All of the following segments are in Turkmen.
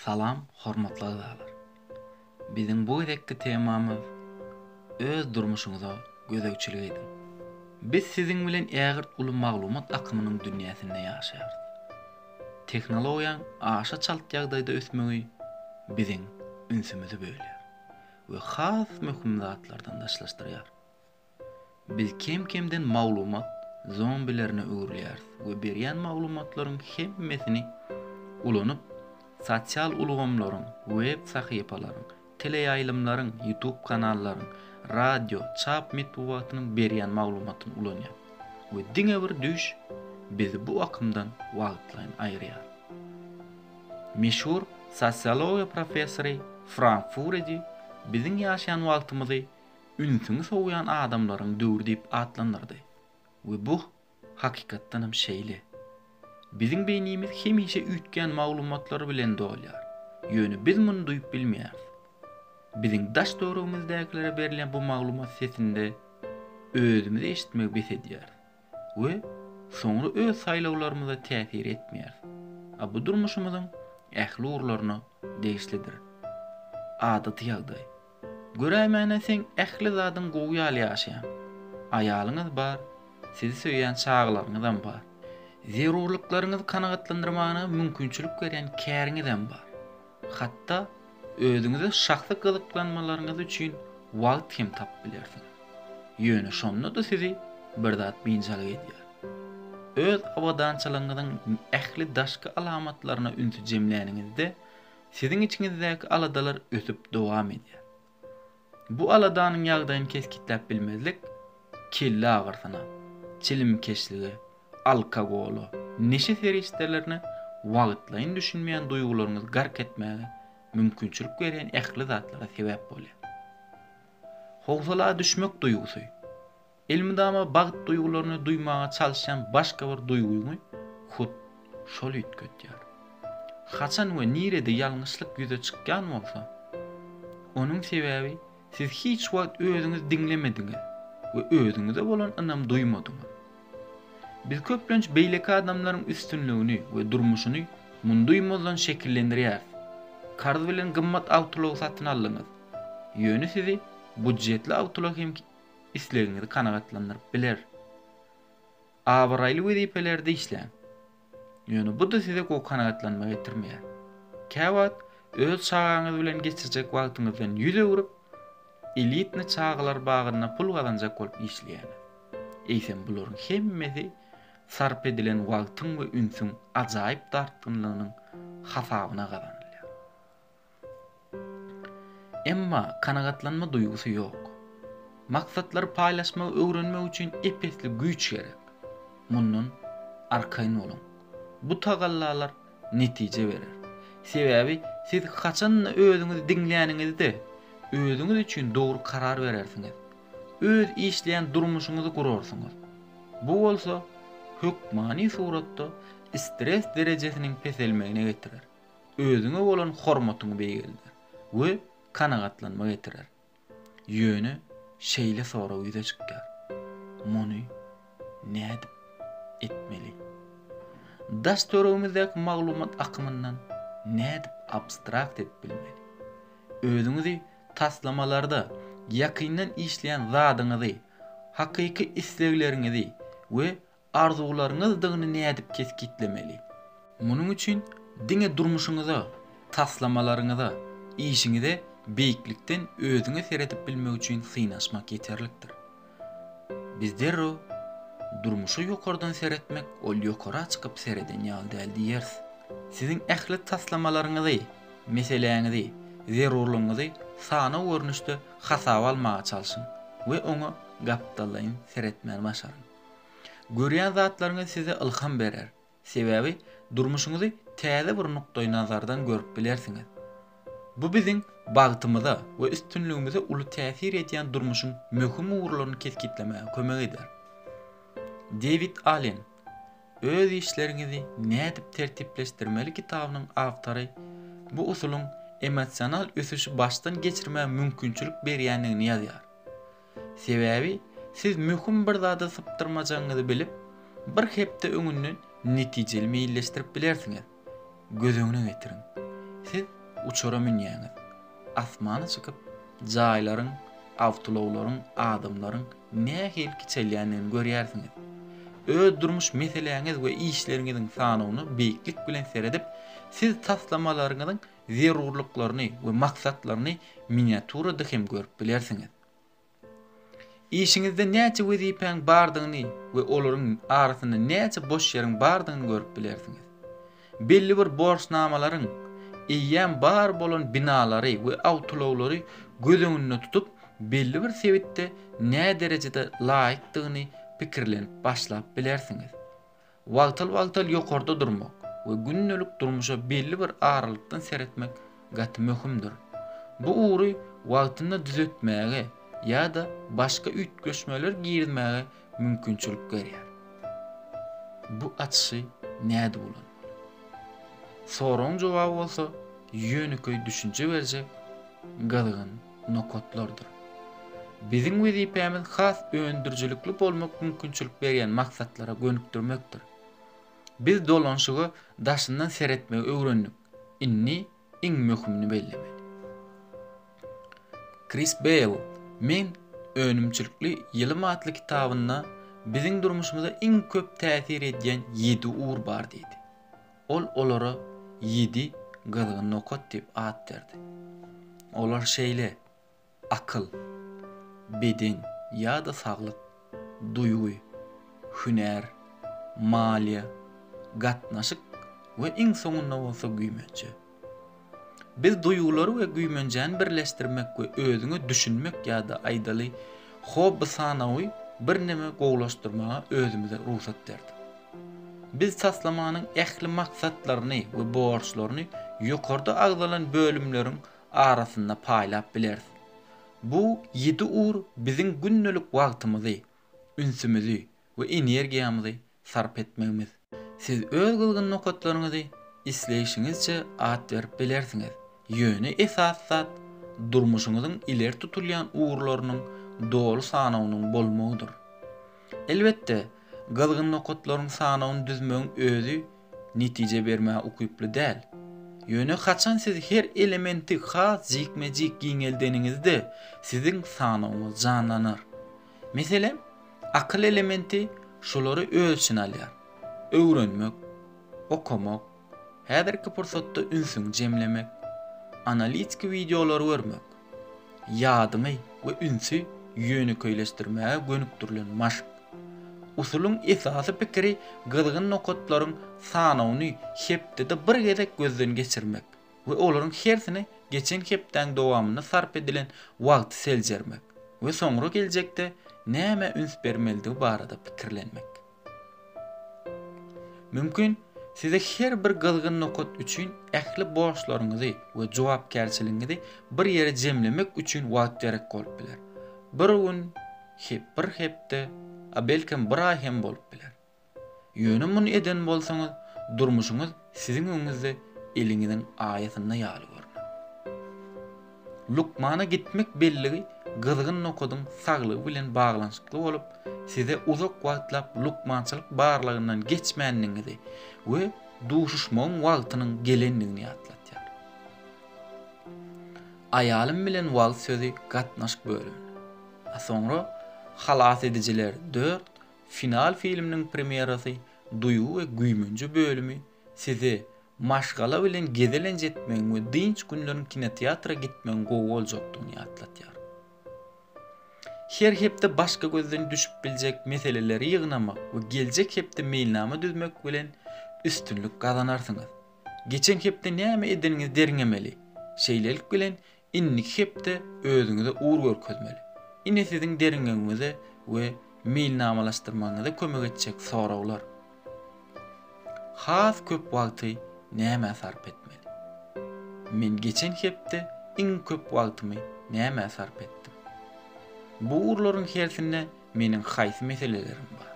Salam hormatly agzalar. Biziň bu gezekki temamyz Öz durmuşyňyza gözegçilik ediň. Biz siziň bilen ägirt uly maglumat akymynyň dünýäsinde ýaşaýarys. Tehnologiýaň aşa çalt ýagdaýda ösmegi biziň ünsümizi bölýär we has möhüm zatlardan daşlaşdyrýar. Biz kem-kemden maglumat zombilerine öwrülýäris we berýän maglumatlaryň hemmesini ulanyp, sosial ulgamlaryň, web sahypalaryň, teleýaýlymlaryň, YouTube kanallaryň, radio, çap metbugatynyň berýän maglumatyny ulanýar we diňe bir düýş bizi bu akymdan wagtlaýyn aýyrýar. Meşhur sosiologiýa professory Frank Furedi biziň ýaşaýan wagtymyzy ünsüňi sowýan adamlaryň döwri diýip atlandyrdy we bu, hakykatdanam, şeýle. Biziň beýnimiz hemişe üýtgän maglumatlar bilen dolýar, ýöne biz muny duýup bilmeýäris. Biziň daş-töweregimizdäkilere berlen bu maglumat sesinde özümizi eşitmegi bes edýäris. we soňra öz saýlawlarymyza täsir etmeýäris. A bu durmuşymyzyň ähli ugurlaryna degişlidir. Adaty ýagdaý. Göräýmäne seň ähli zadyň gowy ýaly ýaşaýaň. Aýalyňyz bar, sizi söýýän çagalaryňyzam bar. Zerurlyklaryňyzy kanagatlandyrmagyna mümkinçilik berýän käriňizem bar. Hatda özüňize şahsy gyzyklanmalaryňyz üçin wagt hem tapyp bilersiňiz. Ýöne şonda-da sizi bir zat biynjalyk edýär. Öz abadançylygyňyzyň ähli daşky alamatlaryna ünsi jemläniňizde, siziň içiňizdäki aladalar ösüp dowam edýär. Bu aladanyň ýagdaýyny kesgitläp bilmezlik kelle agyrysyna, çilimkeşlige, alkogola, neşe serişdelerine wagtlaýyn düşünmeýän duýgularyňyzy gark etmäge mümkinçilik berýän ähli zatlara sebäp bolýar. Howsala düşmek duýgusy. Elmydama bagt duýgularyny duýmaga çalyşýan başga bir duýgyňy hut şol üýtgedýär. Haçan we nirede ýalňyşlyk ýüze çykýan bolsa, onuň sebäbi siz hiç wagt özüňiz diňlemediňiz we özüňize bolan ynam duýmadyňyz. Biz köplenç beýleki adamlaryň üstünligini we durmuşyny munduýmazdan şekillendirýäris. Karz bilen gymmat awtoulag satyn aldyňyz. Ýöne sizi budjetli awtoulag hem islegiňizi kanagatlandyryp biler. Abraýly wezipelerde işläň. Ýöne bu-da size gowy kanagatlanma getirmeýär. Käwagt öz çagaňyz bilen geçirjek wagtyňyzdan ýüz öwrüp, elitny çagalar bagynda pul gazanjak bolup işleýäňiz. Eýsem bularyň hemmesi sarp edilen wagtyň we ünsüň ajaýyp dartgynlygynyň hasabyna gazanylýar. Emma kanagatlanma duýgusy ýok. Maksatlary paýlaşmagy öwrenmek üçin ep-esli güýç gerek. Mundan arkaýyn boluň. Bu tagallalar netije berer. Sebäbi siz haçan-da özüňizi diňläniňizde, özüňiz üçin dogry karar berersiňiz. Öz işleýän durmuşyňyzy gurarsyňyz. Bu bolsa hökmany suratda stres derejesiniň peselmegine getirer. özüňe bolan hormatyňy beýgelder we kanagatlanma getirer. Ýöne şeýle sorag ýüze çykýar, Muny nädip etmeli? Daş-töregimizdäki maglumat akymyndan nädip abstrakt edip bilmeli? Özüňizi taslamalarda ýakyndan işleýän zadyňyzy, hakyky islegleriňizi we arzuwlaryňyzdygyny nädip kesgitlemeli? Munuň üçin diňe durmuşyňyza, taslamalaryňyza, işiňize beýiklikden özüňe seredip bilmek üçin synaşmak ýeterlikdir. Biz derrew, Durmuşa ýokardan seretmek ol ýokara çykyp sereden ýaly däl diýeris. Siziň ähli taslamalaryňyzy, meseläňizi, zerurlygyňyzy sanaw görnüşde hasaba almaga çalşyň we oňa gapdallaýyn seretmäni başaryň. Görýän zatlaryňyz size ylham berer, sebäbi durmuşyňyzy täze bir nukdaýnazardan görüp bilersiňiz. Bu biziň bagtymyza we üstünligimize uly täsir edýän durmuşyň möhüm ugurlaryny kesgitlemäge kömek eder. Dewid Allen, Öz işleriňizi nädip tertipleşdirmeli kitabynyň awtory bu usulyň emosional ösüşi başdan geçirmäge mümkinçilik berýändigini ýazýar. Sebäbi siz möhüm bir zada sypdyrmajagyňyzy bilip, bir hepde öňünden netijeli meýilleşdirip bilersiňiz. Göz öňüne getiriň, siz uçara münýäňiz. Asmana çykyp, jaýlaryň, awtoulaglaryň, adamlaryň nähili kiçelýändigini görýärsiňiz. Öz durmuş meseläňiz we işleriňiziň sanawyna beýiklik bilen seredip, siz taslamalaryňyzyň zerurlyklaryny we maksatlaryny miniaturada hem görüp bilersiňiz. Işiňizde näçe wezipäň bardygyny we olaryň arasynda näçe boş ýeriň bardygyny görüp bilersiňiz. Belli bir borçnamalaryň, eýýäm bar bolan binalary we awtoulaglary göz öňünde tutup, belli bir sebitde näderejede laýykdygyny pikirlenip başlap bilersiňiz. Wagtal-wagtal ýokarda durmak we gündelik durmuşa belli bir aralykdan seretmek gaty möhümdir. Bu ugry wagtynda düzetmäge ýa-da başga üýtgeşmeler girizmäge mümkinçilik berýär. Bu açyşy nädip ulanmaly? Soragyň jogaby bolsa ýönekeý düşünje berjek gyzgyn nokatlardyr. Biziň wezipämiz has öndürijilikli bolmak mümkinçilik berýän maksatlara gönükdirmekdir. Biz dolanyşyga daşyndan seretmegi öwrendik, indi iň möhümini bellemeli. Kris Beýl Men önümçilikli ýylym atly kitabynda biziň durmuşymyza iň köp täsir edýän ýedi ugur bar diýdi. Ol olara ýedi gyzgyn nokat diýip at berdi. Olar şeýle, akyl, beden ýa-da saglyk, duýgy, hünär, maliýe, gatnaşyk we iň soňunda bolsa güýmenje. Biz duýgulary we güýmenjäni birleşdirmek we özüňe düşünmek ýa-da aýdaly hobby sanawy birneme gowulaşdyrmaga özümize rugsat berdik. Biz taslamanyň ähli maksatlaryny we borçlaryny ýokarda agzalan bölümleriň arasynda paýlap bileris. Bu ýedi ur biziň gündelik wagtymyzy, ünsümizi we energiýamyzy sarp etmegimiz. Siz öz gyzgyn nokatlaryňyzy isleýşiňizçe at berip bilersiňiz, ýöne esasy zat durmuşyňyzyň ileri tutulýan ugurlarynyň doly sanawynyň bolmagydyr. Elbetde, gyzgyn nokatlaryň sanawyny düzmegiň özi netije bermäge ukyply däl. Ýöne haçan siz her elementi has jikme-jik giňeldeniňizde, siziň sanawyňyz janlanar. Meselem, Akyl elementi şulary öz içine alýar, öwrenmek, okamak, häzirki pursatda ünsüňi jemlemek, analitiki wideolary görmek, ýadyňy we ünsi ýönekeýleşdirmäge gönükdirilen maşk. Usulyň esasy pikiri gyzgyn nokatlaryň sanawyny hepdede bir gezek gözden geçirmek. we olaryň hersini geçen hepdäň dowamynda sarp edilen wagty seljermek we soňra geljekde nämä üns bermelidigi barada pikirlenmek. Mümkin, size her bir gyzgyn nokat üçin ähli borçlaryňyzy we jogapkärçiligiňizi bir ýere jemlemek üçin wagt gerek bolup biler. Bir gün, bir hepde, a belkem bir aý hem bolup biler. Ýöne muny eden bolsaňyz, durmuşyňyz siziň öňüňizde eliňiziň aýasynda ýaly görner. Lukmana gitmek belligi gyzgyn nokadyň saglygy bilen baglanyşykly bolup, size uzak wagtlap lukmançylyk barlagyndan geçmändigiňizi we duşuşmagyň wagtynyň gelendigini ýatladýar. Aýalym bilen wagt sözi gatnaşyk bölümine, a soňra halas edijiler dört Final filminiň premýerasy Duýgy we güýmenje bölümi size maşgala bilen gezelenç etmegiň we dynç günleriň kinoteatra gitmegiň gowy boljakdygyny ýatladýar. Her hepde başga gözden düşüp biljek meseleleri ýygnamak we geljek hepde meýilnama düzmek bilen üstünlik gazanarsyňyz. Geçen hepde näme edeniňizi derňemeli, şeýlelik bilen Indiki hepde özüňize ugur görkezmeli. Ine siziň derňewiňize we meýilnamalaşdyrmagyňyza kömek etjek soraglar, Has köp wagty nämä sarp etmeli? Men geçen hepde iň köp wagtymy nämä sarp etdim? Bu ugurlaryň hersinde meniň haýsy meselelerim bar?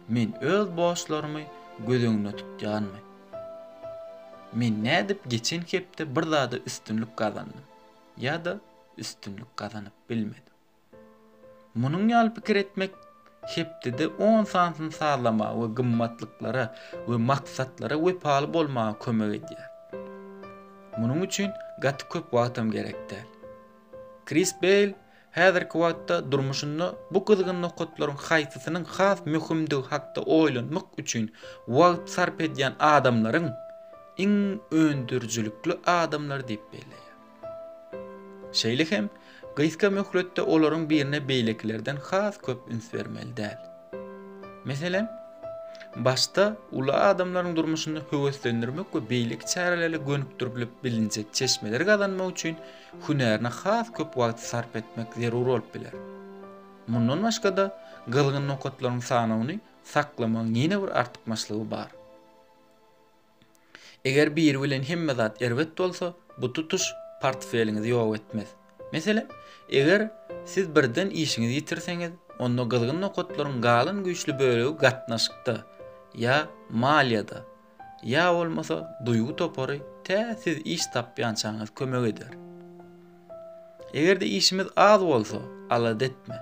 Men öz borçlarymy göz öňünde tutýanmy? Men nädip geçen hepde bir zada üstünlik gazandym ýa-da üstünlik gazanyp bilmedim? Munuň ýaly pikir etmek hepdede on sansyny sazlamaga we gymmatlyklara we maksatlara wepaly bolmaga kömek edýär. Munuň üçin gaty köp wagtam gerek däl. Kris Beýl Häzirki wagtda durmuşynda bu gyzgyn nokatlaryň haýsysynyň has möhümdigi hakda oýlanmak üçin wagt sarp edýän adamlaryň iň öndürijilikli adamlary diýip belleýär. Şeýle hem, gysga möhletde olaryň birine beýlekilerden has köp üns bermeli däl. Meselem, başda uly adamlaryň durmuşynda höweslendirmek we beýleki çärelerle gönükdirilip bilinjek çeşmeleri gazanmak üçin hünärine has köp wagty sarp etmek zerur bolup biler. Mundan başga-da, gyzgyn nokatlaryň sanawyny saklamagyň ýene bir artykmaçlygy bar. Eger biri bilen hemme zat erbet bolsa, bu tutuş portfeliňizi ýok etmez. Meselem, eger siz birden işiňizi ýitirseňiz, onda gyzgyn nokatlaryň galan güýçli bölegi gatnaşykda ýa maliýada Ýa bolmasa duýgy topary tä siz iş tapýançaňyz kömek eder. Eger-de işimiz az bolsa, alada etme.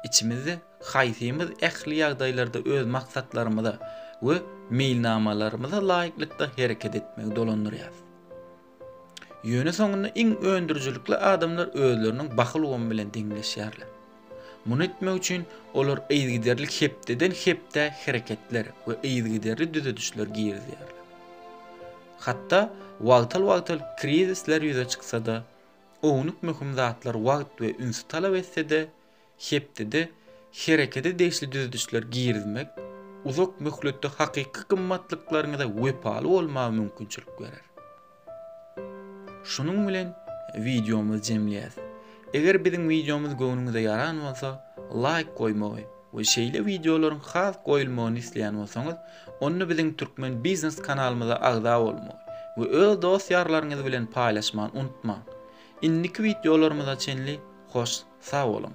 Içimizde haýsymyz ähli ýagdaýlarda öz maksatlarymyza we meýilnamalarymyza laýyklykda hereket etmegi dolandyrýarys? Ýöne soňunda iň öndürijilikli adamlar özleriniň baky ulgamy bilen deňleşýärler. Muny etmek üçin olar yzygiderli hepdeden-hepdä hereketler we yzygiderli düzedişler girizýärler. Hatda wagtal-wagtal krizisler ýüze çyksa-da, ownuk möhüm zatlar wagt we ünsi talap etse-de, hepdede herekete degişli düzedişler girizmek uzak möhletde hakyky gymmatlyklaryňyza wepaly bolmaga mümkinçilik berer. Şunuň bilen wideomyzy jemleýäs. Eger biziň wideomyz göwnüňize ýaran bolsa, laýk goýmagy we şeýle wideolaryň has goýulmagyny isleýän bolsaňyz, Onda biziň Türkmen Biznes kanalymyza agza bolmagy we öz dost-ýarlaryňyz bilen paýlaşman unutmaň. Indiki wideolarymyza çenli hoş sag boluň!